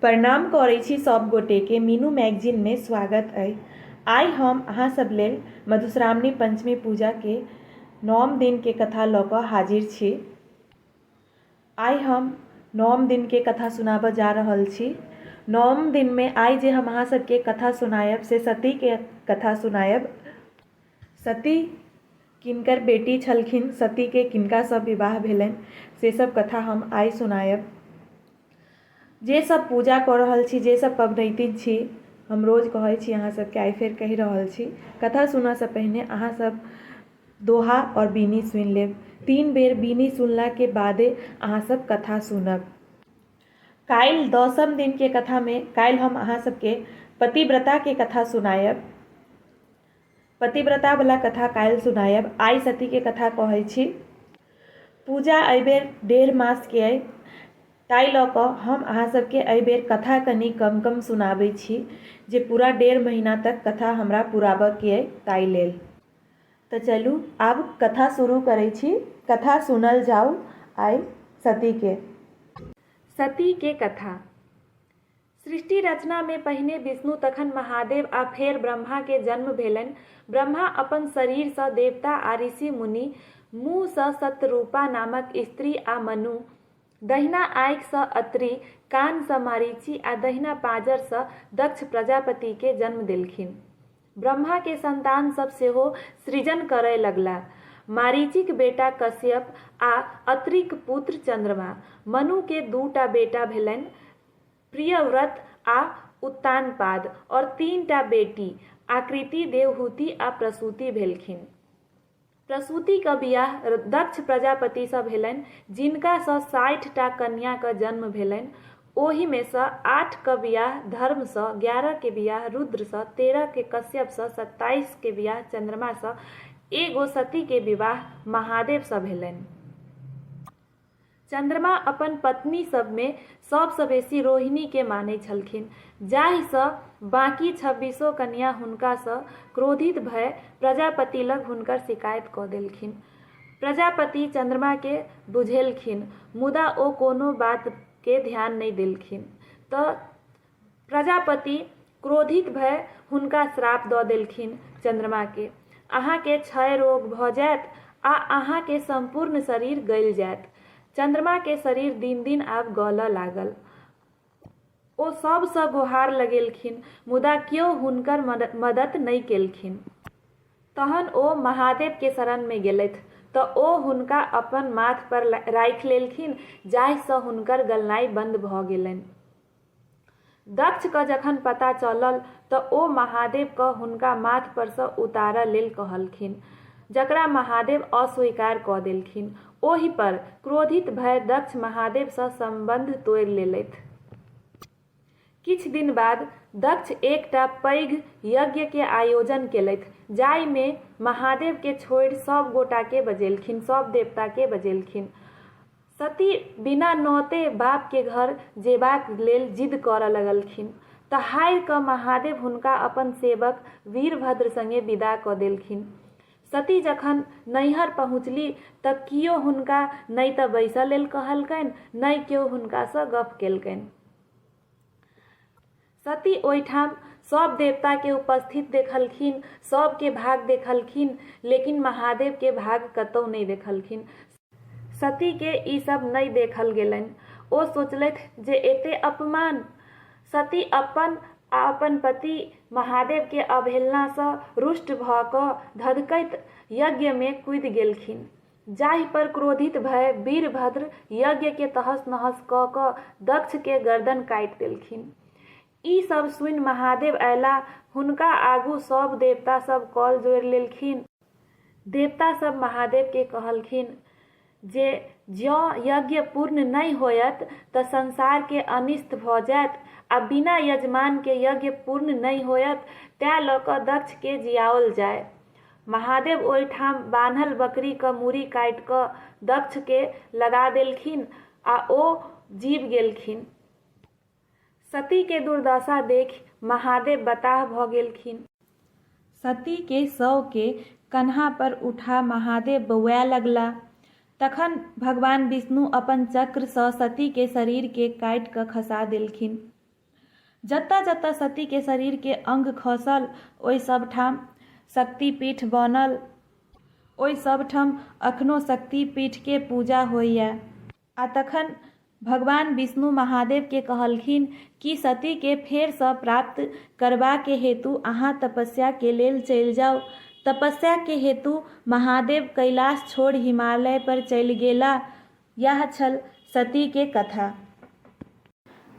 प्रणाम करै छी सब गोटे के मीनू मैगजीन में स्वागत अइ आइ हम अहाँ सब लेल मधुश्रावणी पंचमी पूजा के नौम दिन के कथा लऽ कऽ हाजिर छी आइ हम नौम दिन के कथा सुनाबऽ जा रहल छी नौम दिन में आइ जे हम अहाँ सब के कथा सुनायब से सती के कथा सुनायब सती किनकर बेटी छलखिन, सती के किनका सँ विवाह भेलनि से सब कथा हम आइ सुनायब। जे सब पूजा कऽ रहल छी, जे सब पबनैतिन छी, हम रोज कहै छी अहाँ सब के आइ फेर कहि रहल छी। कथा सुनऽ सँ पहिने अहाँ सब दोहा और बीनी सुनि लेब। तीन बेर बीनी सुनला के बादे अहाँ सब कथा सुनब। काल्हि दसम दिन के कथा में काल्हि हम अहाँ सब के पतिव्रता के कथा सुनायब। पतिव्रता बला कथा काल्हि सुनायब। आइ सती के कथा कहै छी। पूजा एहि बेर डेढ़ मास के अछि ताहि लऽ कऽ हम अहाँ सब के एहि बेर कथा कनी कम कम सुनाबै छी जे पूरा डेढ़ महीना तक कथा हमरा पुराबऽ के अछि ताहि लेल। तऽ चलू आब कथा शुरू करै छी। कथा सुनल जाउ आइ सती के। सती के कथा। सृष्टि रचना मे पहिने विष्णु तखन महादेव आ फेर ब्रह्मा के जन्म भेलनि। ब्रह्मा अपन शरीर सँ देवता आ ऋषि मुनि, मुँह सँ शतरूपा नामक स्त्री आ मनु, दहिना आँखि सँ अत्रि, कान सँ मरीचि आ दहिना पाँजर सँ दक्ष प्रजापति के जन्म देलखिन। ब्रह्मा के संतान सब सेहो सृजन करय लगलाह। मरीचिक बेटा कश्यप आ अत्रिक पुत्र चन्द्रमा। मनु के दू टा बेटा भेलनि, प्रियव्रत आ उत्तानपाद और तीन टा बेटी आकृति, देवहूति आ प्रसूति भेलखिन। प्रसूति क बियाह दक्ष प्रजापति सँ भेलैन जिनका सँ साठि टा कन्या क जन्म भेलैन। ओहि मे सँ आठ क बियाह धर्म सँ, ग्यारह के बियाह रुद्र सँ, तेरह के कश्यप सँ, सत्ताइस के बियाह चन्द्रमा सँ, एगो सती के विवाह महादेव सँ भेलैन। चन्द्रमा अपन पत्नी सभमे सभसँ बेसी रोहिणीकेँ मानैत छलखिन जाहिसँ बाँकी छब्बीसो कन्या हुनकासँ क्रोधित भए प्रजापति लग हुनकर शिकायत कऽ देलखिन। प्रजापति चन्द्रमाकेँ बुझेलखिन मुदा ओ कोनो बातकेँ ध्यान नहि देलखिन तँ प्रजापति क्रोधित भए हुनका श्राप दऽ देलखिन चन्द्रमाकेँ, अहाँकेँ क्षय रोग भऽ जाएत आ अहाँकेँ सम्पूर्ण शरीर गलि जाएत। चन्द्रमाकेँ शरीर दिन-दिन आब गलऽ लागल। ओ सभसँ गोहार लगेलखिन मुदा क्यो हुनकर मदत नहि केलखिन। तहन ओ महादेवकेँ शरणमे गेलथि तँ ओ हुनका अपन माथपर राखि लेलखिन जाहिसँ हुनकर गलनाइ बन्द भऽ गेलनि। दक्ष कँ जखन पता चलल तँ ओ महादेव कँ हुनका माथ पर सँ उतारय लेल कहलखिन, जकरा महादेव अस्वीकार कऽ देलखिन। ओहि पर क्रोधित भए दक्ष महादेव सँ सम्बन्ध तोड़ि लेलथि। किछु दिन बाद दक्ष एकटा पैघ यज्ञ के आयोजन केलथि जाहि मे महादेव के छोड़ि सभ गोटा के बजेलखिन, सभ देवता के बजेलखिन। सती बिना नौते बाप के घर जेबाक लेल जिद करऽ लगलखिन। तहारि कऽ महादेव हुनका अपन सेवक वीरभद्र संगे विदा कऽ देलखिन। सती जखन नैहर पहुँचली तऽ कियो हुनका नै तऽ बैसऽ लेल कहलकैन नै केओ हुनका सँ गप्प केलकैन। सती ओहिठाम सब देवता के उपस्थित देखलखिन, सब के भाग देखलखिन लेकिन महादेव के भाग कतौ नहि देखलखिन। सती के ई सब नहि देखल गेलनि। ओ सोचलथि जे एते अपमान! सती अपन आ अपन पति महादेव के अवहेलना सँ रुष्ट भ क धधकैत यज्ञ मे कूदि गेलखिन। जाहि पर क्रोधित भए वीरभद्र यज्ञकेँ तहस-नहस कऽ कऽ दक्षकेँ गरदन काटि देलखिन। ई सभ सुनि महादेव अयलाह। हुनका आगू सभ देवता सभ कल जोड़ि लेलखिन। देवता सभ महादेवकेँ कहलखिन जे जँ यज्ञ पूर्ण नहि होयत तँ संसारकेँ अनिष्ट भऽ जायत आ बिना यजमानकेँ यज्ञ पूर्ण नहि होयत। तैं लऽ कऽ दक्षकेँ जियाओल जाय। महादेव ओहि ठाम बान्हल बकरी क मूड़ी काटि क दक्ष के लगा देलखिन आ ओ जीब गेलखिन। सती के दुर्दशा देखि महादेव बताह भ गेलखिन। सती के शव के कन्हा पर उठा महादेव बौआए लगला। तखन भगवान विष्णु अपन चक्र सँ सती के शरीर के काटि क खसा देलखिन। जतऽ-जतऽ सती के शरीर के अंग खसल ओइ सब ठाम शक्ति पीठ बनल। ओइ सब ठम अखनो शक्ति पीठ के पूजा होइए। आ तखन भगवान विष्णु महादेव के कहलखिन कि सती के फेर सँ प्राप्त करबा के हेतु अहाँ तपस्या के लेल चलि जाउ। तपस्या के हेतु महादेव कैलाश छोड़ि हिमालय पर चलि गेला। यैह छल सती के कथा।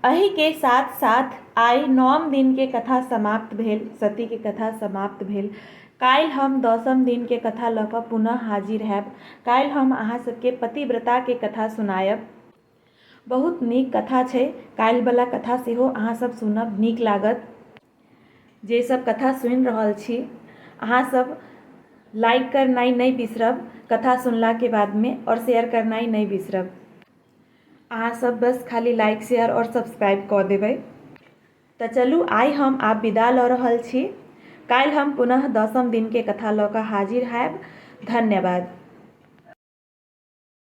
अहि के साथ साथ आइ नौम दिन के कथा समाप्त भेल। सती के कथा समाप्त भेल। काल्हि हम दसम दिन के कथा लऽ कऽ पुनः हाजिर हैब। काल्हि हम अहाँ सब के पतिव्रता के कथा सुनायब। बहुत नीक कथा छै। काल्हि बला कथा सेहो अहाँ सब सुनब। नीक लागत। जे सब कथा सुनि रहल छी अहाँ सब लाइक करनाइ नहि बिसरब कथा सुनलाके बादमे आओर शेयर करनाइ नहि बिसरब अहाँ सब बस खाली लाइक शेयर आओर सब्सक्राइब कऽ देबै तऽ चलू आइ हम आब विदा लऽ रहल छी काल्हि हम पुनः दसम दिनके कथा लऽ कऽ हाजिर होयब धन्यवाद